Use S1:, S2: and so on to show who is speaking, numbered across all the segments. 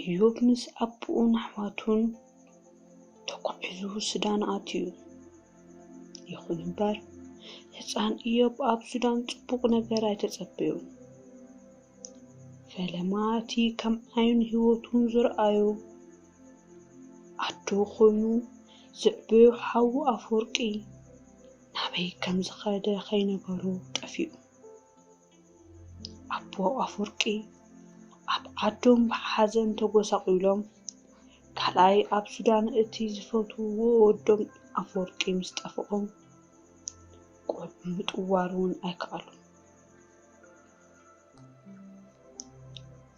S1: እዮብ ምስ ኣቦኡን ኣሕዋቱን ተጓዒዙ ሱዳን ኣትዩ። ይኹን እምበር፣ ህጻን እዮብ ኣብ ሱዳን ጽቡቕ ነገር ኣይተጸበዮን። ፈለማ እቲ ከም ዓይኑን ህይወቱን ዝረኣዮ ኣዱ ኮይኑ ዝዕበዮ ሓዉ ኣፍወርቂ ናበይ ከም ዝኸደ ከይነገሮ ጠፊኡ። ኣቦ ኣፍወርቂ ኣብ ዓዶም ብሓዘን ተጎሳቒሎም፣ ካልኣይ ኣብ ሱዳን እቲ ዝፈትውዎ ወዶም ኣፍወርቂ ምስ ጠፍኦም ቆልዑ ምጥዋር እውን ኣይከኣሉን።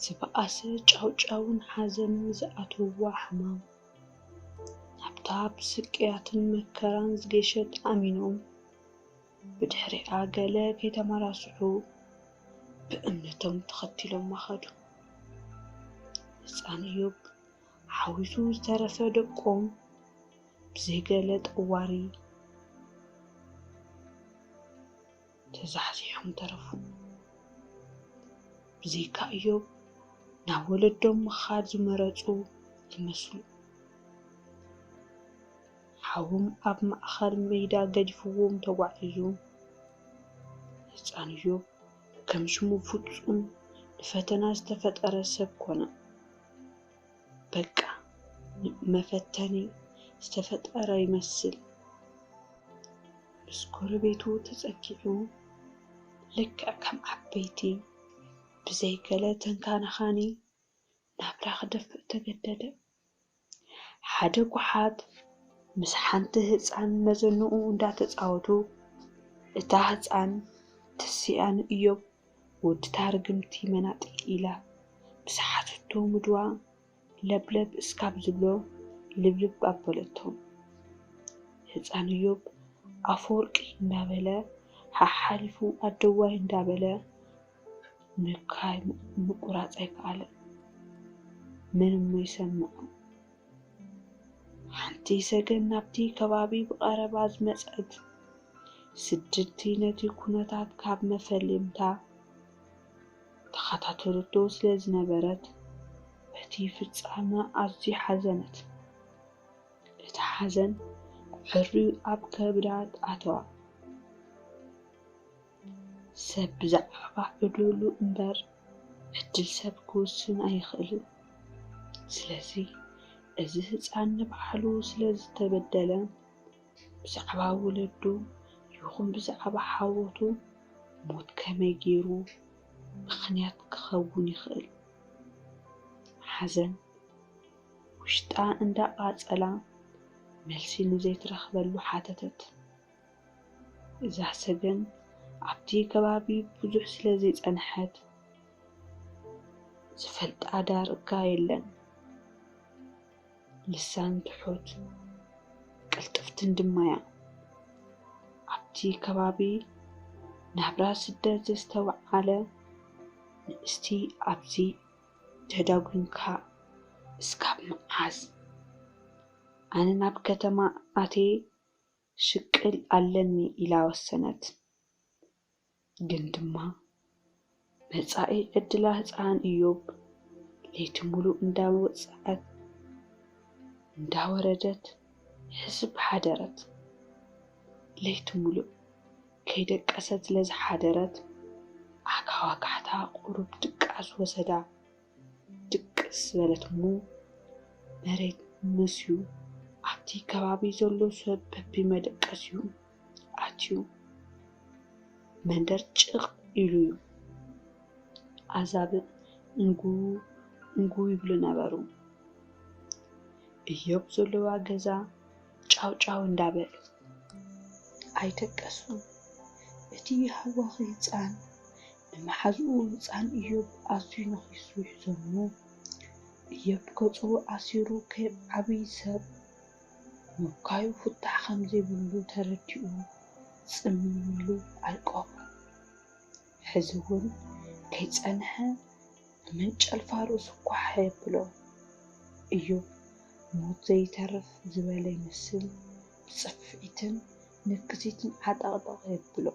S1: ዝበኣሰ ጫውጫውን ሓዘንን ዝኣተውዋ ሕማም፣ ናብታ ብስቅያትን መከራን ዝገሸት ኣሚኖም፣ ብድሕሪኣ ገለ ከይተመራስሑ ብእምነቶም ተኸቲሎማ ኸዱ። ህፃን እዮብ ሓዊሱ ዝተረፈ ደቆም ብዘይገለ ጠዋሪ ተዛሕዚሖም ተረፉ። ብዘይካ እዮብ ናብ ወለዶም ምኻድ ዝመረፁ ይመስሉ። ሓዎም ኣብ ማእከል መይዳ ገዲፍዎም ተጓዒዙ። ህጻን እዮብ ከም ሽሙ ፍጹም ንፈተና ዝተፈጠረ ሰብ ኮነ። በቃ ንመፈተኒ ዝተፈጠረ ይመስል። ምስ ጎረቤቱ ተጸጊዑ ልክዕ ከም ዓበይቲ ብዘይ ገለ ተንካናኻኒ ናብራ ክደፍእ ተገደደ። ሓደ ጓሓት ምስ ሓንቲ ህፃን መዘንኡ እንዳተፃወቱ እታ ህፃን ትስኣ ንእዮብ ወድታ ርግምቲ መናጢ ኢላ ምስ ሓተቶ ምድዋ ለብለብ እስካብ ዝብሎ ልብልብ ኣበለቶም ህፃን እዮብ ኣፈወርቂ እንዳበለ ሓሓሊፉ ኣደዋይ እንዳበለ ምብካይ ምቁራጽ ኣይከኣለን። ምንም ይሰምዑ። ሓንቲ ሰገን ናብቲ ከባቢ ብቐረባ ዝመጸት ስድርቲ ነቲ ኩነታት ካብ መፈለምታ ተኸታተለቶ ስለ ዝነበረት በቲ ፍጻመ ኣዝዩ ሓዘነት። እቲ ሓዘን ዕርዩ ኣብ ከብዳ ኣተዋ። ሰብ ብዛዕባ ዕዱሉ እምበር ዕድል ሰብ ክውስን ኣይኽእልን። ስለዚ እዚ ህጻን ንባዕሉ ስለ ዝተበደለን ብዛዕባ ወለዱ ይኹን ብዛዕባ ሓወቱ ሞት ከመይ ጌሩ ምኽንያት ክኸውን ይኽእል ሓዘን ውሽጣ እንዳቓጸላ መልሲ ንዘይትረኽበሉ ሓተተት። እዛ ሰገን ኣብቲ ከባቢ ብዙሕ ስለ ዘይጸንሐት ዝፈልጣ ዳርጋ የለን። ልሳን ትሑት ቅልጥፍትን ድማ'ያ። ኣብቲ ከባቢ ናብራ ስደት ዘስተውዓለ ንእስቲ ኣብዚ ተዳጒንካ እስካብ መዓዝ? ኣነ ናብ ከተማ ኣትየ ክሽቅል ኣለኒ ኢላ ወሰነት። ግን ድማ መጻኢ ዕድላ ህጻን እዮብ ለይቲ ምሉእ እንዳወጽኣት እንዳወረደት ሕስብ ሓደረት። ለይቲ ምሉእ ከይደቀሰት ስለዝሓደረት ኣካዋካሕታ ቁሩብ ድቃስ ወሰዳ። ድቅስ ዝበለት እሞ መሬት መስዩ ኣብቲ ከባቢ ዘሎ ሰብ በቢመደቀስዩ ኣትዩ መንደር ጭቕ ኢሉ እዩ። ኣዛብእ እንጉ እንጉ ይብሉ ነበሩ። እዮብ ዘለዋ ገዛ ጫው ጫው እንዳበል ኣይደቀሱን። እቲ ሃዋኺ ህፃን ንመሓዝኡ ህጻን እዮብ ኣዝዩ ነኺሱ ይሕዞ እሞ፣ እዮብ ገጹ ኣሲሩ ከም ዓቢ ሰብ ምብካዩ ፍታሕ ከም ዘይብሉ ተረዲኡ ጽምም ኢሉ ኣልቀቑ። ሕዚ እውን ከይጸንሐ ብመንጨልፋ ርእሱ ኳሕ የብሎ። እዮብ ሞት ዘይተርፍ ዝበለ ይመስል ብጽፍዒትን ንክሲትን ዓጠቕጠቕ የብሎ።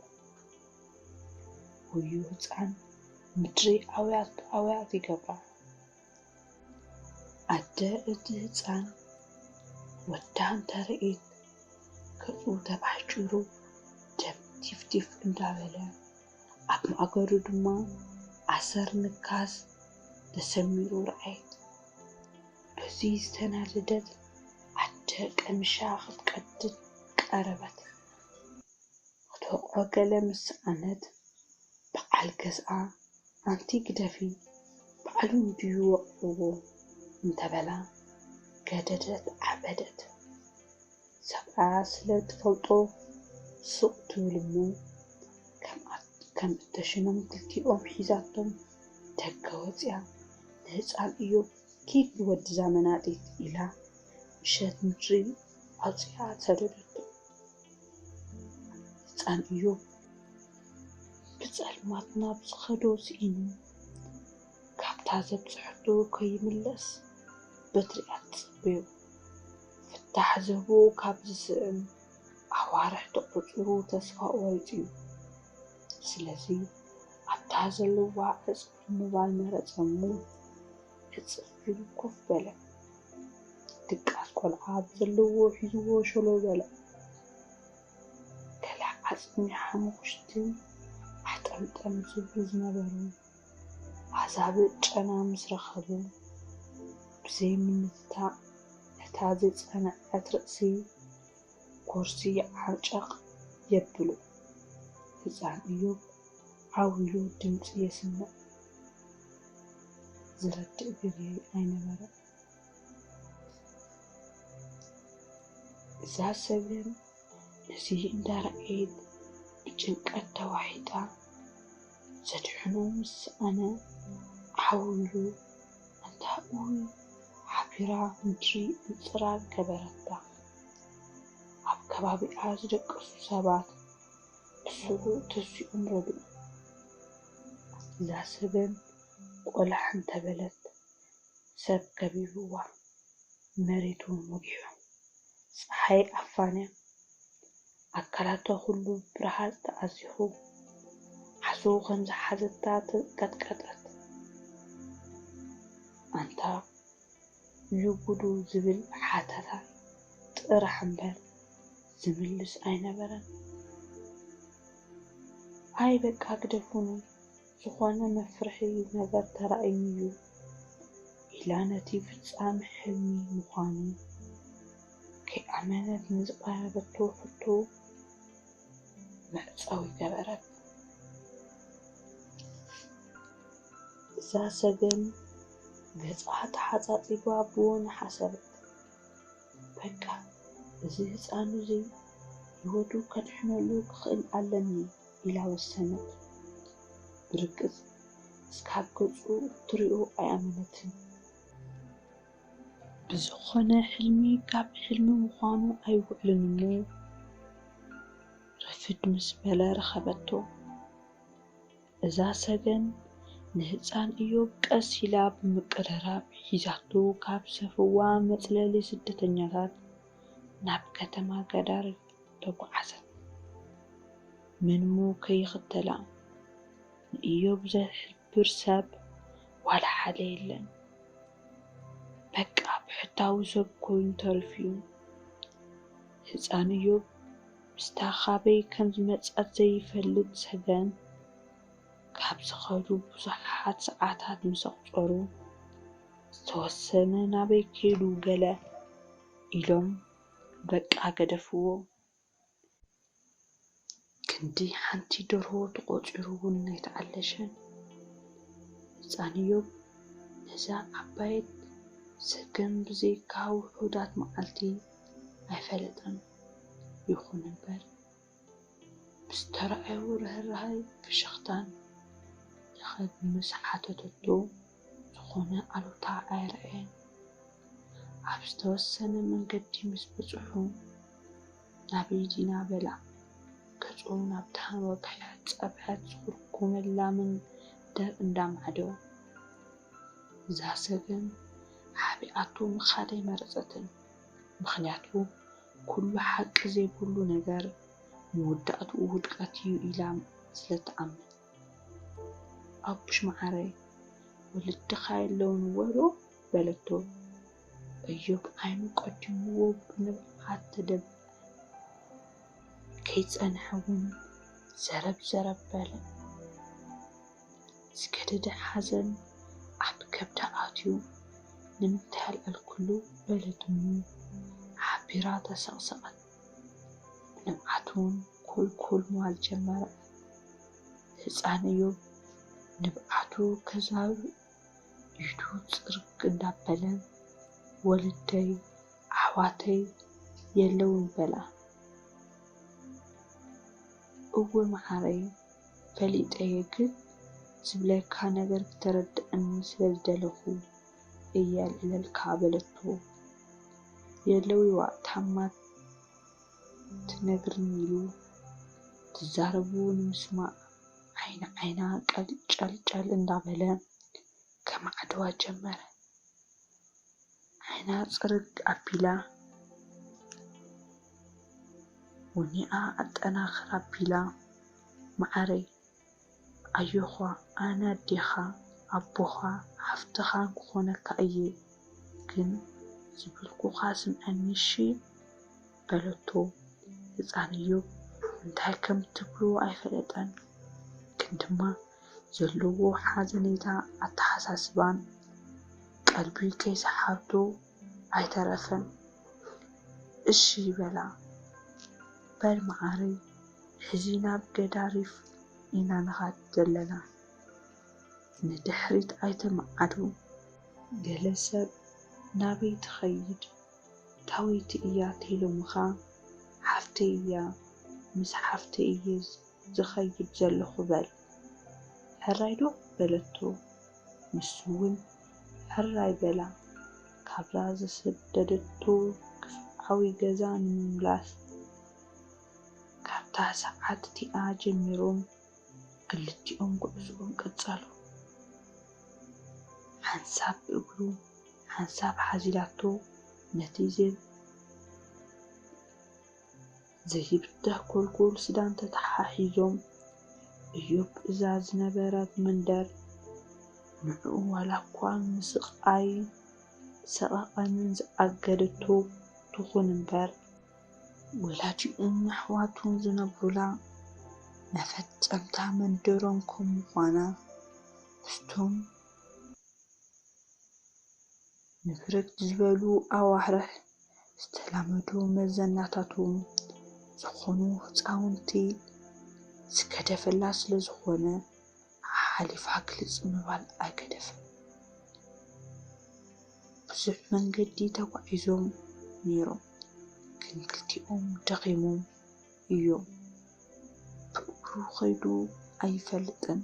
S1: ወዮ ህፃን ምድሪ ኣውያት ኣውያት ይገብራ ኣደ እቲ ህፃን ወዳ እንተርእየት ገፁ ተባሕጪሩ ደም ቲፍ ቲፍ እንዳበለ ኣብ ማእገሩ ድማ ኣሰር ንካስ ተሰሚሩ ረኣየት በዙይ ዝተናደደት ኣደ ቀሚሻ ክትቀድድ ቀረበት ኣቶቕሮ ገለ ምስ ሰኣነት በዓል ገዝኣ ኣንቲ ግደፊ ባዕሉ እንድዩ ወቒዕዎ እንተበላ ገደደት ዓበደት። ሰብኣያ ስለ እትፈልጦ ሱቕ ትብል እሞ ከም እተሽኖም ክልቲኦም ሒዛቶም ደገ ወጺኣ ንህጻን እዮብ ኪድ ወድዛ መናጢት ኢላ ምሸት ምድሪ ኣውጺኣ ሰደደቶ። ህጻን እዮብ ብጸልማት ናብ ዝኸዶ ስኢኑ፣ ካብታ ዘብጽሐቶ ከይምለስ በትሪኣ ትጽበዮ። ፍታሕ ዝህቦ ካብ ዝስዕም ኣዋርሕ ተቖጺሩ ተስፋ ቖሪጹ እዩ። ስለዚ ኣብታ ዘለዋ ዕጽፊ ምባል መረጸ እሞ ሕጽር ኢሉ ኮፍ በለ። ድቃስ ቆልዓ ብዘለዎ ሒዝዎ ሸሎ በለ። ገለ ዓጽሚ ሓሙኽሽቲ ኣሕጠምጠም ዝብሉ ዝነበሩ ኣዛብእ ጨና ምስ ረኸቡ፣ ብዘይ ምንትታእ ነታ ዘይጸንዐት ርእሲ ጎርሲ ዓንጨቕ የብሉ። ህጻን እዮብ ዓው ኢሉ ድምጺ የስምዕ ዝረድእ ግዜ ኣይነበረን። እዛ ሰብን ነዚ እንዳረኣየት ብጭንቀት ተዋሒጣ ዘድሕኖ ምስ ሰኣነ ዓው ኢሉ ኣንታ ኡይ ሓቢራ ምድሪ ምጽራር ገበረታ። ኣብ ከባቢኣ ዝደቀሱ ሰባት ክስቡ ተሲኦም ረድኡ። እዛ ሰበን ቆላሕ እንተበለት ሰብ ከቢብዋ መሬት ውን ወጊሑ። ጸሓይ ኣፋንያ ኣካላታ ኩሉ ብረሃጽ ተኣዚኹ። ሓስቡ ከም ዝሓዘታ ተንቀጥቀጠት። ኣንታ! ንጉዱ ዝብል ሓተታ ጥራሕ እምበር ዝምልስ ኣይነበረን። ኣይ በቃ ግደፉኒ ዝኾነ መፍርሒ ነገር ተራእዩኒ ዩ ኢላ ነቲ ፍጻመ ሕልሚ ምዃኑ ከይኣመነት ንዝቐረበቶ ሕቶ፣ መዕጸዊ ገበረት። እዛ ሰገን ገጻ ተሓጻጺባ ብወን ሓሰበት። በቃ እዚ ህጻን እዙይ ህይወቱ ከድሕነሉ ክኽእል ኣለኒ ኢላ ወሰነት። ብርግጽ እስካብ ገጹ እትሪኦ ኣይኣመነትን። ብዝኾነ ሕልሚ ካብ ሕልሚ ምዃኑ ኣይውዕልን እሞ ረፍድ ምስ በለ ረኸበቶ። እዛ ሰገን ንህጻን እዮብ ቀስ ኢላ ብምቅርራብ ሒዛቶ ካብ ሰፍዋ መጽለሊ ስደተኛታት ናብ ከተማ ጋዳሪፍ ተጓዓዘት። ምንሞ ከይኽተላ ንእዮብ ዘሕልፎ ዝገብር ሰብ ዋላ ሓደ የለን በቃ ብሕታዊ ሰብ ኮይኑ ተሪፉዩ ህጻን እዮብ ምስታ ካበይ ከም ዝመጸት ዘይፈልጥ ሰገን ካብ ዝኸዱ ብዙሓት ሰዓታት ምስ ኣቁጸሩ ዝተወሰነ ናበይ ከይዱ ገለ ኢሎም በቃ ገደፍዎ ክንዲ ሓንቲ ደርሆ ተቖፂሩ እውን ኣይተዓለሸን። ህፃን እዮብ ነዛ ዓባየት ሰገን ብዘይካ ውሑዳት መዓልቲ ኣይፈለጠን። ይኹን እምበር ብዝተረኣዮ ርህራሀን ፍሽኽታን ለኸ ብምስ ሓተተቶ። ዝኾነ ኣሉታ ኣየርኣየን። ኣብ ዝተወሰነ መንገዲ ምስ በጽሑ፣ ናበይ ዲና በላ። ገጹ ናብታ ንወግሐ ጸብሐት ዝኹርኩመላ መንደር እንዳ ማዕዶ ዛሰገም ሓቢኣቶ ምኻድ ኣይመረጸትን። ምኽንያቱ ኩሉ ሓቂ ዘይብሉ ነገር መወዳእትኡ ውድቀት'ዩ ኢላ ስለትኣምን። ኣቡሽ መዓረይ ወለድኻ የለውን ወዶ በለቶ። እዮብ ዓይኑ ቀዲምዎ ብንብዓት ተደብዐ። ከይጸንሐ እውን ዘረብ ዘረብ በለ። ዝገደደ ሓዘን ኣብ ከብዳ ኣትዩ ንምንታይ ኣልዕልክሉ በለት እሙ ሓቢራ ተሰቕሰቐት። ንብዓቱን ኩልኩል ምባል ጀመረ። ህጻን እዮብ ንብዓቱ ከዛርብ ኢዱ ጽርግ እንዳበለ ወለደይ ኣሕዋተይ የለውን በላ። እወ መዓረይ ፈሊጠየ ግን ዝብለካ ነገር ክተረደኣኒ ስለዝደለኹ። እየ ኣልዕለልካ በለቶ። የእለዊዋ ታማ ትነግርኒ ኢሉ ትዛረቡ ንምስማዕ ዓይኒ ዓይና ቀልጨልጨል እንዳበለ ከማዕድዋ ጀመረ። ዓይና ፅርግ ኣቢላ ወኒኣ ኣጠናኽር ኣቢላ ማዓረይ ኣዮዃ ኣነ ኣዴኻ ኣቦኻ ሓፍትኻን ክኾነካ እየ ግን ዝበልኩኻ ስምዐኒ እሺ በለቶ ህፃን እዮብ እንታይ ከም ትብሎ ኣይፈለጠን ግን ድማ ዘለዎ ሓዘኔታ ኣተሓሳስባን ቀልቢ ከይሰሓቶ ኣይተረፈን እሺ በላ። በል መዓረይ ሕዚ ናብ ገዳሪፍ ኢና ንኻድ ዘለና። ንድሕሪት ኣይተመዓዱ ገለ ሰብ ናበይ ትኸይድ ታወይቲ እያ ተይሎምኻ ሓፍተይ እያ ምስ ሓፍተይ እየ ዝኸይድ ዘለኹ በል። ሕራይ ዶ በለቶ ንሱ ውን። ሕራይ በላ። ካብዛ ዝሰደደቶ ግፍዓዊ ገዛ ንምምላስ ካብታ ሰዓት እቲኣ ጀሚሮም ክልቲኦም ጉዕዝኦም ቀጸሉ። ሓንሳብ ብእግሩ ሓንሳብ ሓዚላቶ ነቲ ዝብኢ ዘይብዳህ ጎልጎል ስዳን ተተሓሒዞም እዮብ እዛ ዝነበረት መንደር ንዕኡ ዋላኳ ንስቓይን ሰቐቐንን ዝኣገደቶ ትኹን እምበር ወላዲኡን ኣሕዋቱን ዝነብሩላ መፈጸምታ መንደሮም ከም ምዃና ምስቶም ንፍርክት ዝበሉ ኣዋርሕ ዝተላመዱ መዘናታቱ ዝኾኑ ህፃውንቲ ዝገደፈላ ስለዝኾነ ሓሓሊፋ ግልፅ ምባል ኣይገደፈን። ብዙሕ መንገዲ ተጓዒዞም ነይሮም ግን ክልቲኦም ደኺሞም። እዩ። ብእግሩ ኸይዱ ኣይፈልጥን።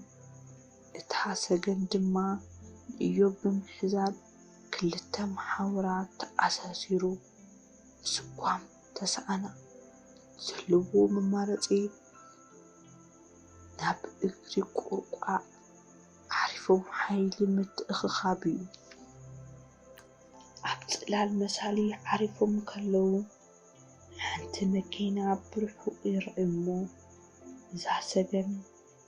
S1: እቲ ሓሰገን ድማ ንእዮብ ብምሕዛል ክልተ መሓውራት ተኣሳሲሩ ምስጓም ተሰኣና። ዘለዎ መማረፂ ናብ እግሪ ቁርቋዕ ዓሪፎም ሓይሊ ምትእኽኻብ እዩ። ኣብ ፅላል መሳሊ ዓሪፎም ከለዉ። ሓንቲ መኪና ብርሑቕ ይርኣዩ እሞ እዛ ሰገን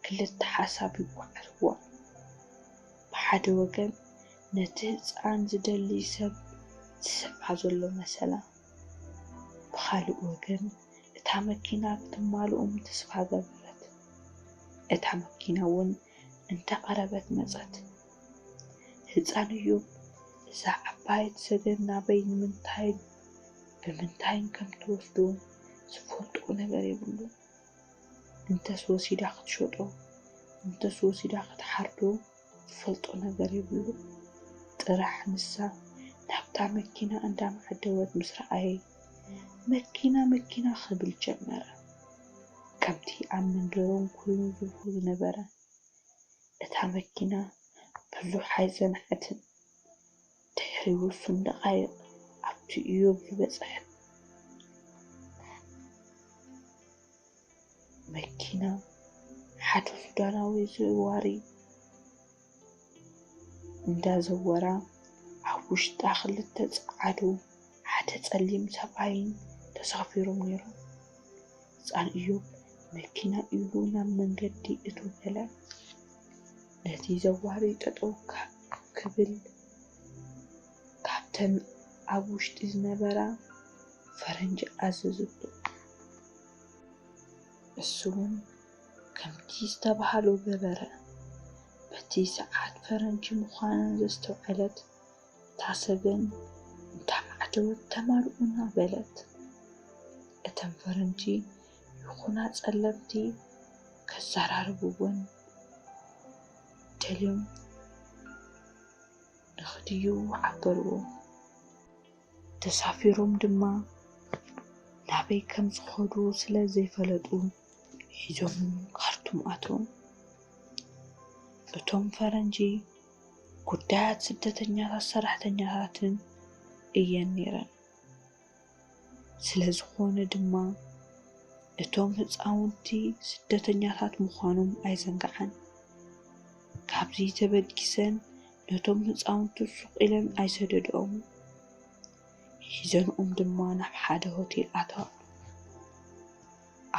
S1: ክልተ ሓሳብ ይጓዓዝዋ። ብሓደ ወገን ነቲ ህጻን ዝደሊ ሰብ ዝስዕባ ዘሎ መሰላ፣ ብኻልእ ወገን እታ መኪና ክትማልኡም ተስፋ ገበረት። እታ መኪና'ውን እንተቐረበት መጸት። ህጻን እዩ እዛ ዓባየት ሰገን ናበይ ንምንታይን ብምንታይን ከም ትወስዶ ዝፈልጦ ነገር የብሉን እንተስ ወሲዳ ክትሸጦ እንተስ ወሲዳ ክትሓርዶ ዝፈልጦ ነገር የብሉ ጥራሕ ንሳ ናብታ መኪና እንዳማዓደወት ምስ ረኣየ መኪና መኪና ክብል ጀመረ ከምቲ ኣብ መንደሮም ኮይኑ ዝብሎ ዝነበረ እታ መኪና ብዙሕ ኣይጸንሐትን፣ ድሕሪ ውሱን ደቓይቕ ኣብቲ እዮብ ዝበጽሐት መኪና ሓደ ሱዳናዊ ዘዋሪ እንዳዘወራ ኣብ ውሽጣ ክልተ ጸዓዱ ሓደ ጸሊም ሰብኣይን ተሳፊሮም ነይሮም። ህፃን እዮብ መኪና ኢሉ ናብ መንገዲ እቶ በለ። ነቲ ዘዋሪ ጠጠው ክብል ካብተን ኣብ ውሽጢ ዝነበራ ፈረንጂ ኣዘዘቶ። እሱውን ከምቲ ዝተባሃሎ ገበረ። በቲ ሰዓት ፈረንጂ ምዃነን ዘስተውዐለት ታሰብን እንተዓጀወት ተማርኡና በለት። እተን ፈረንጂ ይኹና ጸለምቲ ከዘራርብወን ደልዮም ንኽድዩ ዓበርዎም። ተሳፊሮም ድማ ናበይ ከም ዝኸዱ ስለ ዘይፈለጡ ሒዞም ካርቱም ኣትዎም። እቶም ፈረንጂ ጉዳያት ስደተኛታት ሰራሕተኛታትን እየን ነይረን። ስለ ዝኾነ ድማ እቶም ህፃውንቲ ስደተኛታት ምዃኖም ኣይዘንግዓን። ካብዚ ተበጊሰን ነቶም ህፃውንቲ ሱቕ ኢለን ኣይሰደድኦም። ሒዘንኦም ድማ ናብ ሓደ ሆቴል ኣተዋ።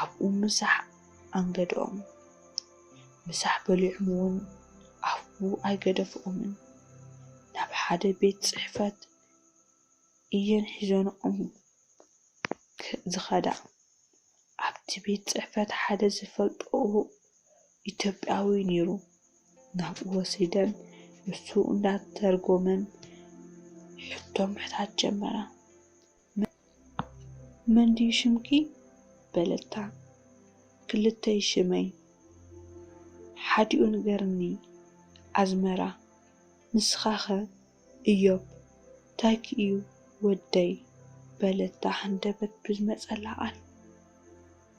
S1: ኣብኡ ምሳሕ ኣንገድኦም። ምሳሕ በሊዖም'ውን ኣፍ'ቡ ኣይገደፍኦምን። ናብ ሓደ ቤት ጽሕፈት እየን ሒዘንኦም ዝኸዳ። ኣብቲ ቤት ጽሕፈት ሓደ ዝፈልጥኦ ኢትዮጵያዊ ነይሩ። ናብኡ ወሲደን ንሱ እንዳተርጎመን ሕቶ ምሕታት ጀመራ። መን ድዩ ሽምኪ? በለታ። ክልተ'ዩ ሽመይ፣ ሓዲኡ ንገርኒ። ኣዝመራ፣ ንስኻኸ? እዮብ፣ ታይኪ'ዩ ወደይ? በለታ ሃንደበት ብዝመጸላ ቃል።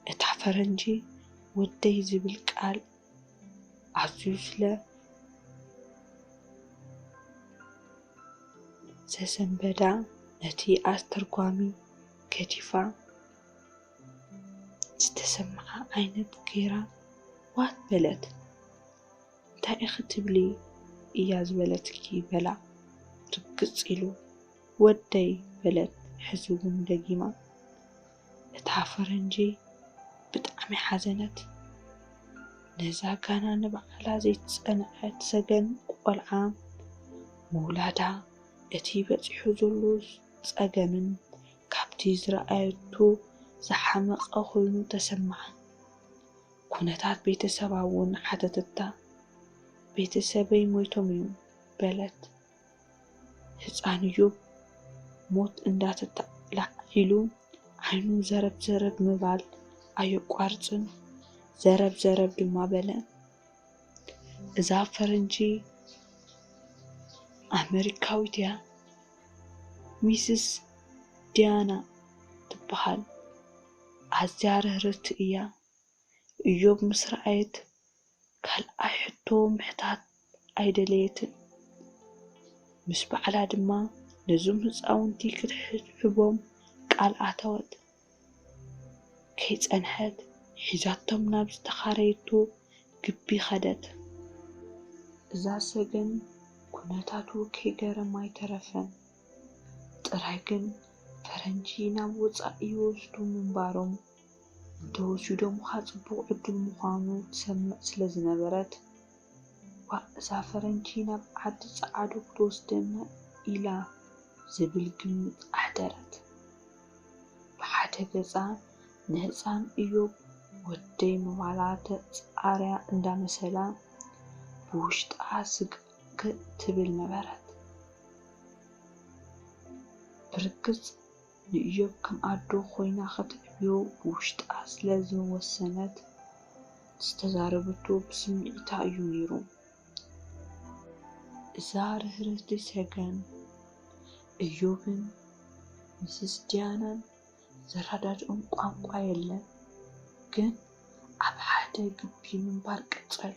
S1: እታ ፈረንጂ ወደይ ዝብል ቃል ኣዝዩ ስለ ዘሰንበዳ ነቲ ኣስተርጓሚ ገዲፋ ዝተሰምዓ ዓይነት ገይራ ዋት በለት። እንታይ ኢኺ ትብሊ እያ ዝበለትኪ በላ ርግጽ ኢሉ። ወደይ በለት ሕዚ እውን ደጊማ። እታ ፈረንጂ ብጣዕሚ ሓዘነት። ነዛ ጋና ንባዕላ ዘይትጸንዐት ሰገን ቆልዓ ምውላዳ እቲ በጺሑ ዘሎ ጸገምን ካብቲ ዝረኣየቶ ዝሓመቐ ኮይኑ ተሰምዓ። ኩነታት ቤተሰባ'ውን ሓተተታ። ቤተሰበይ ሞይቶም'ዮም በለት። ህፃን እዩ ሞት እንዳተጣላዕ ኢሉ ዓይኑ ዘረብ ዘረብ ምባል ኣየቋርፅን ዘረብ ዘረብ ድማ በለ። እዛ ፈረንጂ ኣመሪካዊት እያ ሚስስ ዲያና ትበሃል ኣዝያ ርህርህቲ እያ እዮብ ምስ ረኣየት ካልኣይ ሕቶ ምሕታት ኣይደለየትን። ምስ ባዕላ ድማ ነዞም ህጻውንቲ ክትሕብሕቦም ቃል ኣተወት። ከይጸንሐት ሒዛቶም ናብ ዝተኻረየቶ ግቢ ከደት። እዛ ሰገን ኩነታቱ ከይገረማ ኣይተረፈን። ጥራይ ግን ፈረንጂ ናብ ወጻኢ ይወስዱ ምንባሮም እንተወስዩ ደሞኻ ጽቡቕ ዕዱል ምዃኑ ትሰምዕ ስለ ዝነበረት፣ ዋእ እዛ ፈረንጂ ናብ ዓዲ ጸዓዱ ክትወስደና ኢላ ዝብል ግምት ኣሕደረት። ብሓደ ገጻ ንህጻን እዮብ ወደይ ምባላ ተጻርያ እንዳ መሰላ፣ ብውሽጣ ስግእ ትብል ነበረት። ብርግጽ ንእዮብ ከም ኣዶ ኮይና ከተዕብዮ ብውሽጣ ስለ ዝወሰነት ዝተዛረበቶ ብስምዒታ እዩ ነይሩ። እዛ ርህርህቲ ሰገን፣ እዮብን ምስስ ዲያናን ዘረዳድኦም ቋንቋ የለን፣ ግን ኣብ ሓደ ግቢ ምንባር ቀጸሉ።